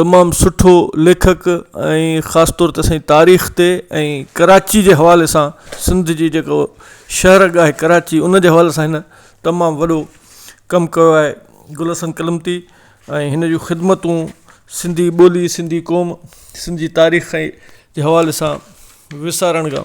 تمام سٺو ليکڪ ۽ خاص طور تي سائين تاريخ تي ۽ ڪراچي جي حوالي سان سنڌ جي جيڪو شھر ڳاھي ڪراچي ان جي حوالي سان ھن تمام وڏو ڪم ڪيو آھي گل حسن ڪلمتي ۽ ھن جون خدمتون سنڌي ٻولي سنڌي قوم سنڌي تاريخ جي حوالي سان وسارڻ کان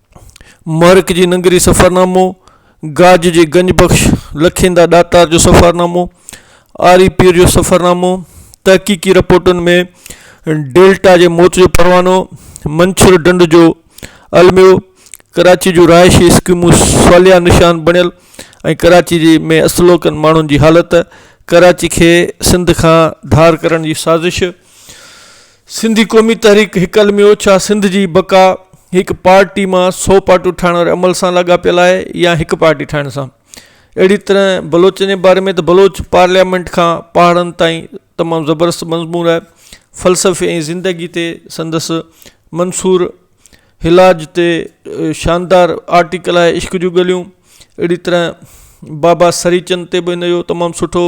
مهرڪ جي ننگري سفرنامو، گاج جي گنج بخش، لکيندا ڏاتار جو سفرنامو، آري پير جو سفرنامو، تحقيقي رپورٽن ۾ ڊيلٽا جي موت جو پروانو، منڇر ڍنڍ جو الميو، ڪراچي جون رهائشي اسڪيمون صالحه نشان بڻيل ۽ ڪراچي جي ۾ اصلوڪن ماڻهن جي حالت، ڪراچي کي سنڌ کان ڌار ڪرڻ جي سازش، سنڌي قومي تحريڪ هڪ علمي اوڇا سنڌ جي بقا هڪ پارٽي مان سو پارٽيون ٺاهڻ واري عمل سان لاڳاپيل آهي يا هڪ پارٽي ٺاهڻ سان اهڙي طرح بلوچن جي باري ۾ ته بلوچ پارليامينٽ کان پهاڙن تائين تمام زبردست مضمون آهي فلسفي ۽ زندگي تي سندس منصور هلاج تي شاندار آرٽيڪل آهي عشق جون ڳليون اهڙي طرح بابا سريچند تي به هن جو تمام سٺو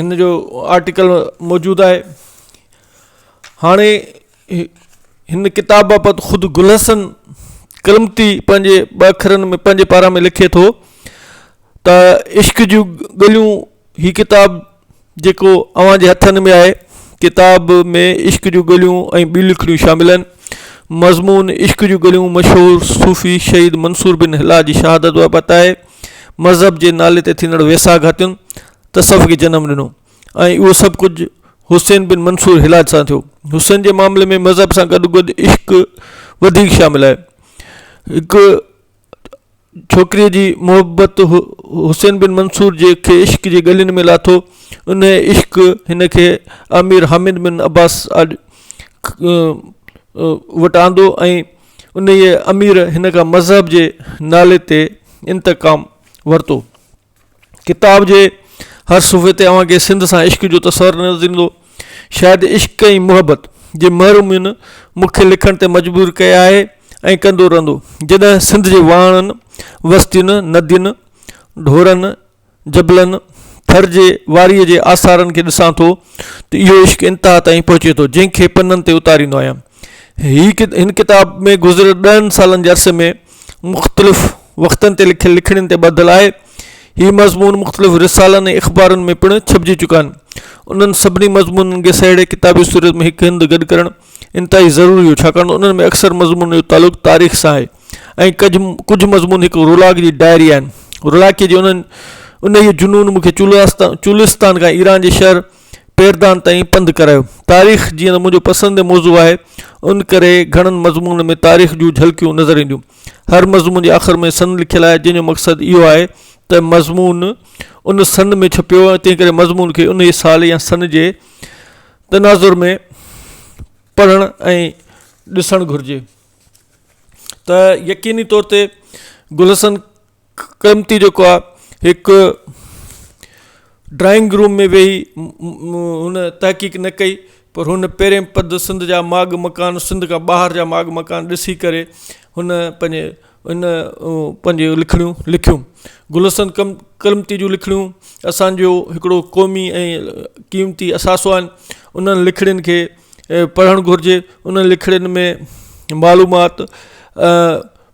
ان جو آرٽيڪل موجود آهي هاڻي هن ڪتاب بابت خود گل حسن ڪرمتي پنهنجي ٻه اکرن ۾ پنهنجي پارا ۾ لکي ٿو ته عشق جون ڳليون هي ڪتاب جيڪو اوهان جي هٿن ۾ آهي ڪتاب ۾ عشق جون ڳليون ۽ ٻيون لکڻيون شامل آهن مضمون عشق جون ڳليون مشهور صوفي شهيد منصور بن هلال جي شهادت بابت آهي مذهب جي نالي تي ٿيندڙ ويساهه گهاتين تصوف کي جنم ڏنو ۽ اهو سڀ ڪجهه حسين بن منصور حلاج سان ٿيو. حسين جي معاملي ۾ مذهب سان گڏ گڏ عشق وڌيڪ شامل آهي. هڪ ڇوڪريء جي محبت حسين بن منصور جي کي عشق جي ڳلين ۾ لاٿو. انهيء عشق هن کي امير حامد بن عباس وٽ آندو ۽ انهيء امير هن کان مذهب جي نالي تي انتقام ورتو. ڪتاب جي هر صفحي تي اوهان کي سنڌ سان عشق جو تصور نظر ايندو. شايد عشق ۽ محبت جي مهر مون مون کي لکڻ تي مجبور ڪئي آهي ۽ ڪندو رهندو. جڏهن سنڌ جي واهڻن، وستين، ندين، ڍورن جبلن، ٿر جي واريء جي آثارن کي ڏسان ٿو ته اهو عشق انتها تائين پهچي ٿو جنهن کي پنن تي اتاريندو آهيان. هي هن ڪتاب ۾ گذريل ڏهن سالن جي عرصي ۾ مختلف وقتن تي لکيل لکڻين تي ٻڌل آهي. هي مضمون مختلف رسالن ۽ اخبارن ۾ پڻ ڇپجي چڪا آهن. انهن سڀني مضمونن کي سهيڙي ڪتابي صورت ۾ هڪ هنڌ گڏ ڪرڻ انتهائي ضروري هو ڇاڪاڻ ته انهن ۾ اڪثر مضمونن جو تعلق تاريخ سان آهي. ۽ ڪجھ ڪجھ مضمون هڪ رولاڪ جي ڊائري آهن. رولاڪيء جي انهن انهيء جنون مون کي چولاستا چولستان کان ايران جي شهر پيردان تائين پنڌ ڪرايو. تاريخ جيئن ته منهنجو پسنديده موضوع آهي، ان ڪري گهڻن مضمونن ۾ تاريخ جون جهلڪيون نظر اينديون. هر مضمون جي آخر ۾ سن لکيل آهي، جنهن جو مقصد اهو آهي ته مضمون ان سن ۾ ڇپيو ۽ تنهنڪري مضمون کي انهيء سال يا سن جي تناظر ۾ پڙهڻ ۽ ڏسڻ گهرجي. ته يقيني طور تي گل حسن ڪرمتي جيڪو آ هڪ ڊرائنگ روم ۾ ويهي هن تحقيق نه ڪئي پر هن پهرين پد سنڌ جا ماڳ مڪان سنڌ کان ٻاهر جا ماڳ مڪان ڏسي ڪري هن پنهنجي هن پنهنجي لکڻيون لکيون گل حسن ڪم ڪرمتي جون لکڻيون اسانجو هڪڙو قومي ۽ قيمتي اثاثو آهن انهن لکڻين کي پڙهڻ گهرجي انهن لکڻين ۾ معلومات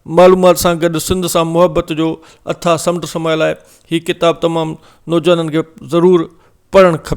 معلومات سان گڏ سنڌ سان محبت جو اٿاهه سمنڊ سمايل آهي هي ڪتاب تمام نوجوانن کي ضرور پڙهڻ کپي